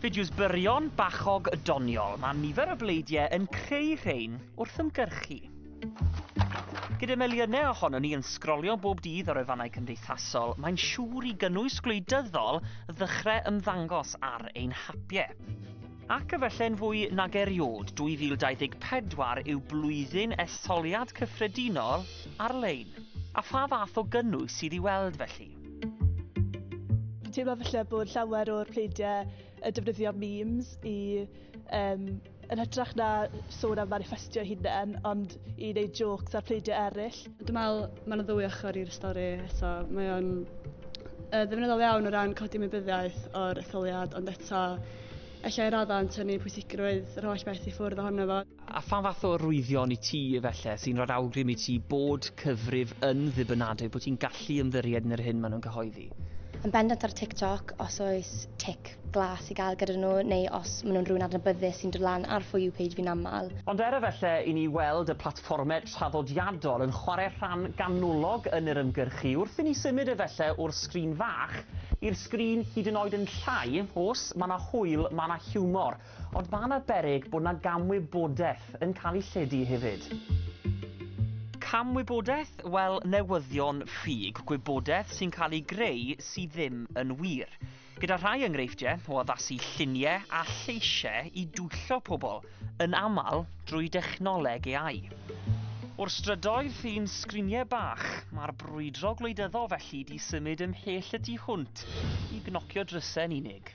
Fideos byrion, bachog, doniol, mae nifer o bleidiau yn creu rhein wrth ymgyrchu. Gyda miliynau ohonon ni yn sgrolio bob dydd ar wefannau cymdeithasol, mae'n siŵr i gynnwys gwleidyddol ddechrau ymddangos ar ein hapiau. Ac efallai'n fwy nag eriod, 2024 yw blwyddyn etholiad cyffredinol ar-lein. A pha fath o gynnwys sydd i weld felly? Dwi'n teimlo falle bod llawer o'r pleidiau yn defnyddio memes i um, yn hytrach na sôn am manifestio hunain, ond i wneud jokes ar pleidiau eraill. Dwi'n meddwl mae'n ddwy ochr i'r stori eto. Mae o'n uh, ddefnyddol iawn o ran codi mybyddiaeth o'r etholiad, ond eto efallai raddau yn tynnu pwysigrwydd yr holl beth i ffwrdd ohono fo. A phan fath o arwyddion i ti, efelle, sy'n rhoi'r awgrym i ti bod cyfrif yn ddibynadwy, bod ti'n gallu ymddiried yn yr hyn maen nhw'n cyhoeddi? Yn bendant ar TikTok, os oes tic glas i gael gyda nhw, neu os maen nhw'n rhywun adnabyddus sy'n dod lan ar For You page fi'n aml. Ond er efelle i ni weld y platfformau traddodiadol yn chwarae rhan ganolog yn yr ymgyrchu, wrth i ni symud efelle o'r sgrin fach i'r sgrin hyd yn oed yn llai, os mae 'na hwyl, mae 'na hiwmor. Ond mae'n arbennig bod 'na gamwybodaeth yn cael ei lledu hefyd. Camwybodaeth? Wel, newyddion ffug, gwybodaeth sy'n cael ei greu sydd ddim yn wir. Gyda rhai enghreifftiau o addasu lluniau a lleisiau i dwyllo pobl, yn aml drwy dechnoleg AI. O'r strydoedd i'n sgriniau bach, mae'r brwydro gwleidyddol felly 'di symud ymhell y tu hwnt i gnocio drysau yn unig.